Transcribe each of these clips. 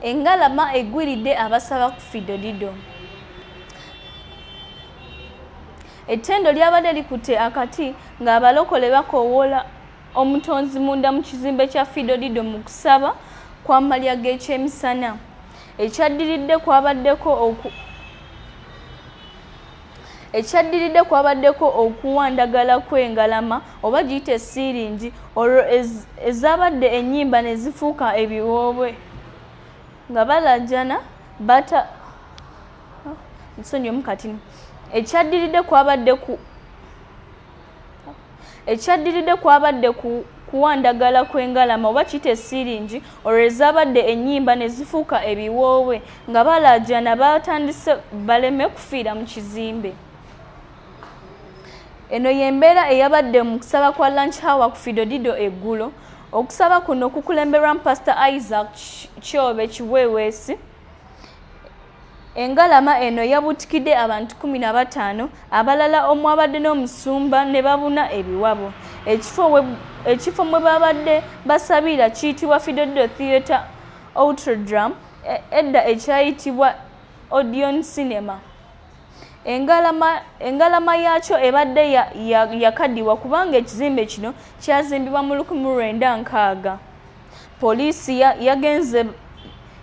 engalama egwiridde abasaba ku fidodido ettendo lyabadde likutte akati ng'abalokole bakoowoola omutonzi munda mu kizimbe kya fidodido mu kusaba kwamalya g'ekyemisana ekyaddiridde kwabaddeko ekyaddiridde kwabaddeko okuwandagala kw'engalama oba giyita esiiringi olwo ezabadde ennyimba ne zifuuka ebiwoobwe nga balajana bata nsonyi omukatini ekyaddiridde kwabadde ku ekyaddiridde kwabadde kuwa ndagala kw'engalama oba kite siiringi olwo ezaabadde ennyimba ne zifuuka ebiwoowe nga balaajana baatandise baleme kufiira mu kizimbe eno y'embeera eyabadde mu kusaba kwa lunch hour ku fidodido eggulo okusaba kuno kukulemberwamu pasita isaac kyobe kiweweesi Engalama eno yabutikidde abantu kumi na bataano abalala omwabadde n'omusumba ne babuna ebiwabo. Ekifo mwe babadde basabira kiyitibwa Fidodo Theatre Outrodram e, edda ekyayitibwa Odion Cinema. Engalama yaakyo ebadde yakadiwa kubanga ekizimbe kino kyazimbibwa mu lukumi lwenda nkaaga. poliisi yagenze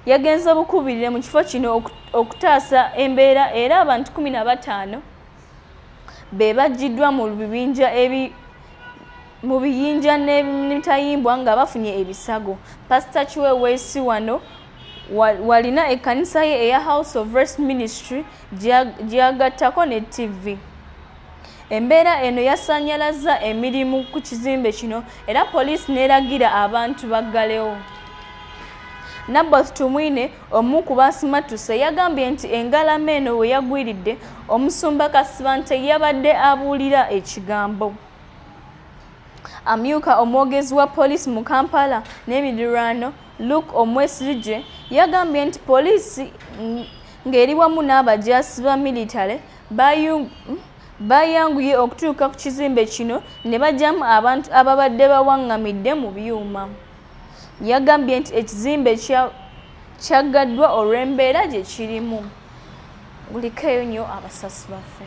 yagenze bukubirire mu kifo kino okutaasa embeera era abantu 15 be bajjiddwa mu bibinja ebi mu biyinja n'emitayimbwa nga bafunye ebisago pasita kiweweesi wano walina ekkanisa ye eya house of rest ministry gyeyagattako ne ttivi Embeera eno yasannyalazza emirimu ku kizimbe kino era poliisi n'eragira abantu baggalewo. Naboth Tumwine omu ku baasimattuse yagambye nti engalama eno we yagwiridde omusumba Kasibante yabadde abuulira ekigambo. Amyuka omwogezi wa poliisi mu Kampala n'emidirwano Luke Omwesirigye yagambye nti poliisi ng'eri wamu n'abajaasi ba militale baayanguye okutuuka ku kizimbe kino ne bajjamu abantu ababadde bawaŋŋamidde mu byuma yagambye nti ekizimbe kyaggaddwa olw'embeera gye kirimu gulikeeyo nnyo abasasi baffe